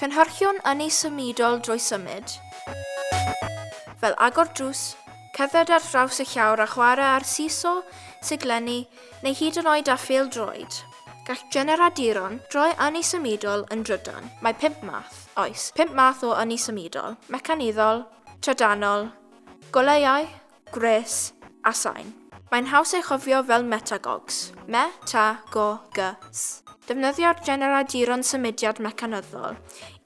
Cynhyrchion ynni symudol drwy symud, fel agor drws, cerdded ar draws y llawr a chwarae ar seesaw, siglenni, neu hyd yn oed â phêl-droed. Gall generaduron droi ynni symudol yn drydan. Mae pump math, oes, pump math o ynni symudol, mecanyddol, trydanol, goleuau, gwres, a sain. Mae'n haws ei chofio fel metagogs, me, ta, go, gy, s. Defnyddio'r generaduron symudiad mecanyddol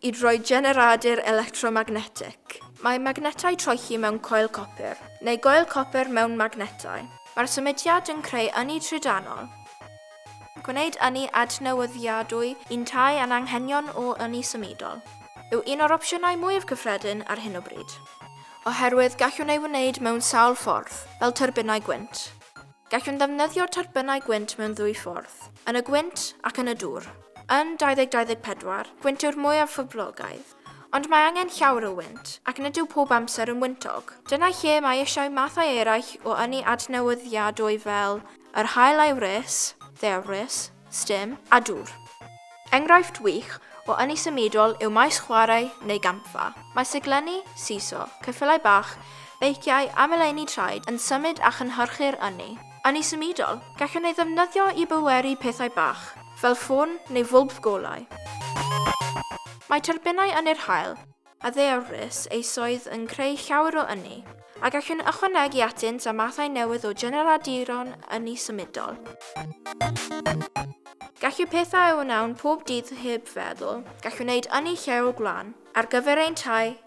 i droi generadur electromagnetig. Mae magnetau troelli mewn coel copr, neu goel copr mewn magnetau. Mae'r symudiad yn creu ynni trydanol, gwneud ynni adnewyddiadwy yntau a'n anghenion o ynni symudol yw un o'r opsiynau mwyaf cyffredin ar hyn o bryd, oherwydd gallwn ei wneud mewn sawl ffordd, fel tyrbinau gwynt. Gallwn ddefnyddio tyrbinau gwynt mewn ddwy ffordd, yn y gwynt ac yn y dŵr. Yn 2024, gwynt yw'r mwyaf phoblogaidd. Ond mae angen llawer o wynt, ac nid yw pob amser yn wyntog. Dyna lle mae eisiau mathau eraill o ynni adnewyddiadwy fel yr haul a'i wres, ddewrys, stum, a dŵr. Enghraifft wych o ynni symudol yw maes chwarae neu gampfa. Mae siglenni, seesaw, ceffylau bach, beiciau a meleuni traed yn symud a chynhyrchu'r ynni. Yn ei symudol, gallwn ei ddefnyddio i bweru pethau bach, fel ffôn neu fwlb golau. Mae tyrbinau ynni'r haul a ddeallus eisoes yn creu llawer o ynni, a gallwn ychwanegu atynt â mathau newydd o generaduron ynni symudol. Gallu pethau a wnawn pob dydd heb feddwl, gallwn wneud ynni lleol gwlân, ar gyfer ein tai,